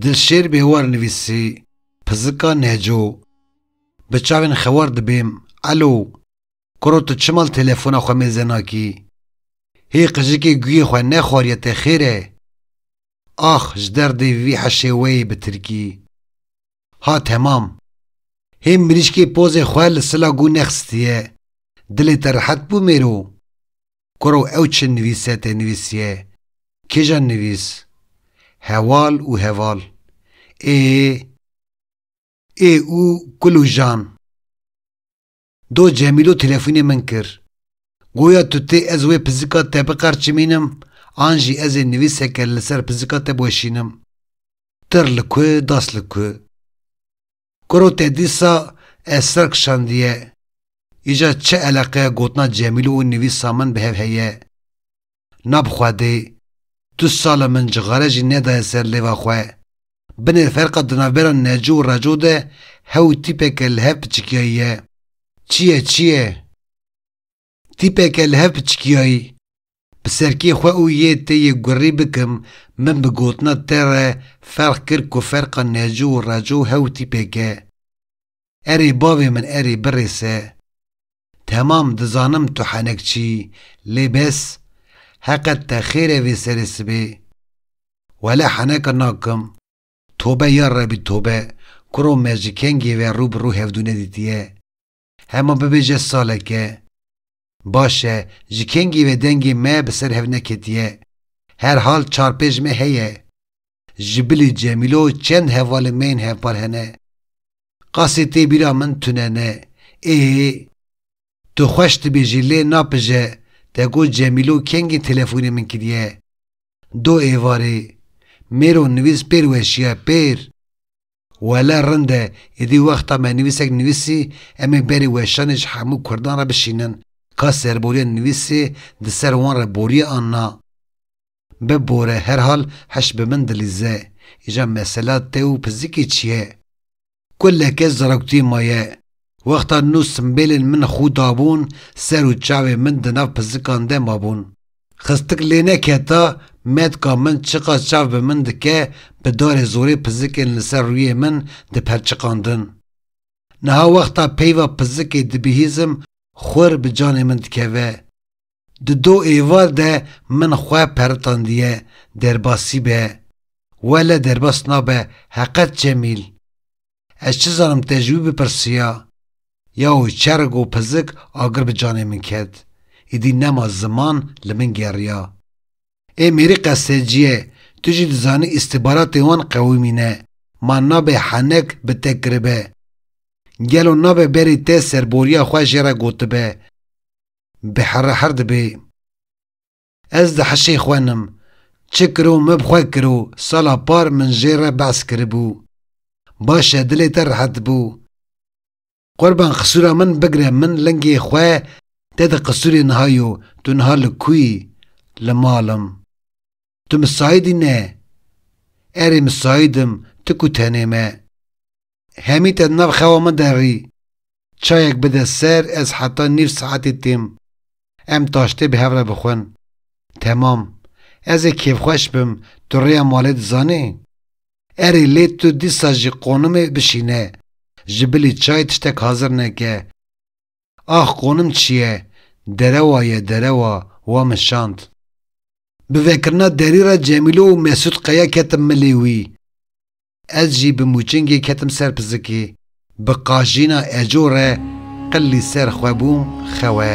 Dilşêr Bêwar nivîsî, Pizika Neco Bi çavên xewar dibêm, Elo, kuro tu çima li telefona xwe mêze nakî? Hê qijikê guyê xwe nexwariye te xêr e? Ax ji derdê vî heşê weyî bi tirkî. Ha temam. Hê mirîşkê pozê xwe li sila gû nexistiye. Dilê te rehet bû mêro? Koro ew çi nivîse tê nivîsiye? Kêjan nivîs? Hewal û heval. Ê. Ê û kul û jan. Do Cemîlo telefonê min kir. Goya tu tê ez wê pizika te biqerçimînim an jî ez ê nivîseke li ser pizika te biweşînim. Tir li ku, das li ku. Kuro te dîsa ez ser kişandiye. Îcar çi eleqeya gotina Cemîlo û nivîsa min bi hev heye? Na bi xwedê, tu sala min cixare jî nedaye ser lêva xwe. Binê ferqa di navbera neco û reco de hew tîpeke li hev piçikiyayî ye. Çi ye, çi ye? Tîpeke li hev piçikiyayî. Bi serkê xwe û yê tê yê gurrî bikim, min bi gotina te re ferq kir ku ferqa neco û reco hew tîpek e. Erê bavê min erê birêse. Temam dizanim tu henekçî lê bes heqet te xêre vê serê sibê wele heneka nakim tobe ya rebî tobe kuro me ji kengê ve rû bi rû hevdû nedîtiye hema bibêje saleke baş e ji kengê ve dengê me bi ser hev neketiye her hal çar pêj me heye Ji bilî Cemîlo çend hevalên me yên hevpar hene. Qasê tê bîra min tune ne. Ê, tu xweş dibêjî lê napije te got Cemîlo kengî telefonê min kiriye. Do êvarê. Mêro nivîs pêr weşiya, pêr. Wele rind e, êdî wexta me nivîsek nivîsî em ê berê weşanê ji hemû kurdan re bişînin, ka serboriya nivîsê di ser wan re boriye an na. Bibore herhal heş bi min dilîze. Îja mesela te û pizikê çi ye? Kuleke zaroktiyê ma ye. Wexta nû simbêlên min xû dabûn ser û çavê min di nav pizikan de mabûn. Xistik lê neketa metka min çiqas çav bi min dike bi darê zorê pizikên li ser rûyê min diperçiqandin. Niha wexta peyva pizikê dibihîzim xwir bi canê min dikeve. Di do êvar de min xwe peritandiye derbasî be, wele derbas nabe heqet Cemîl. Ez çi zanim te ji wî bipirsiya. Yaw çerg û pizik agir bi canê min ket. Îdî nema ziman li min geriya. Ê mêrî qeseciye, tu jî dizanî îstîbaratên wan qewimî ne, ma nabe henek bi te kiribe. Gelo nabe berî te serboriya xwe jê re gotibe. Bi here her dibê. Ez di hişê xwe nim. Çi kiro me bi xwe kiro, sala par min jê re behs kiribû. Baş e dilê te rehet bû. Qurban qisûra min bigire min lingê xwe te di qisûrê niha yo, tu niha li ku yî? Li mal im. Tu misaîdî ne? Erê misaîdim ti ku tenê me. Hemî te di nav xewa min de rî. Çayek bide ser ez heta nîv saetê têm. Em taştê bi hev re bixwin. Temam. Ez ê kêfxweş bim tu rêya malê dizanî? Erê lê tu dîsa jî qonimê bişîne. Ji bilî çay tiştek hazir neke. Ax qonim çiye derewa ye derewa wa min şand. Bi vekirina derî re Cemîlo û Mesûd qeya ketim milê wî. Ez jî bi mûçingê ketim ser pizikê. Bi qajîna eco re qillî ser xwe bûm xewe.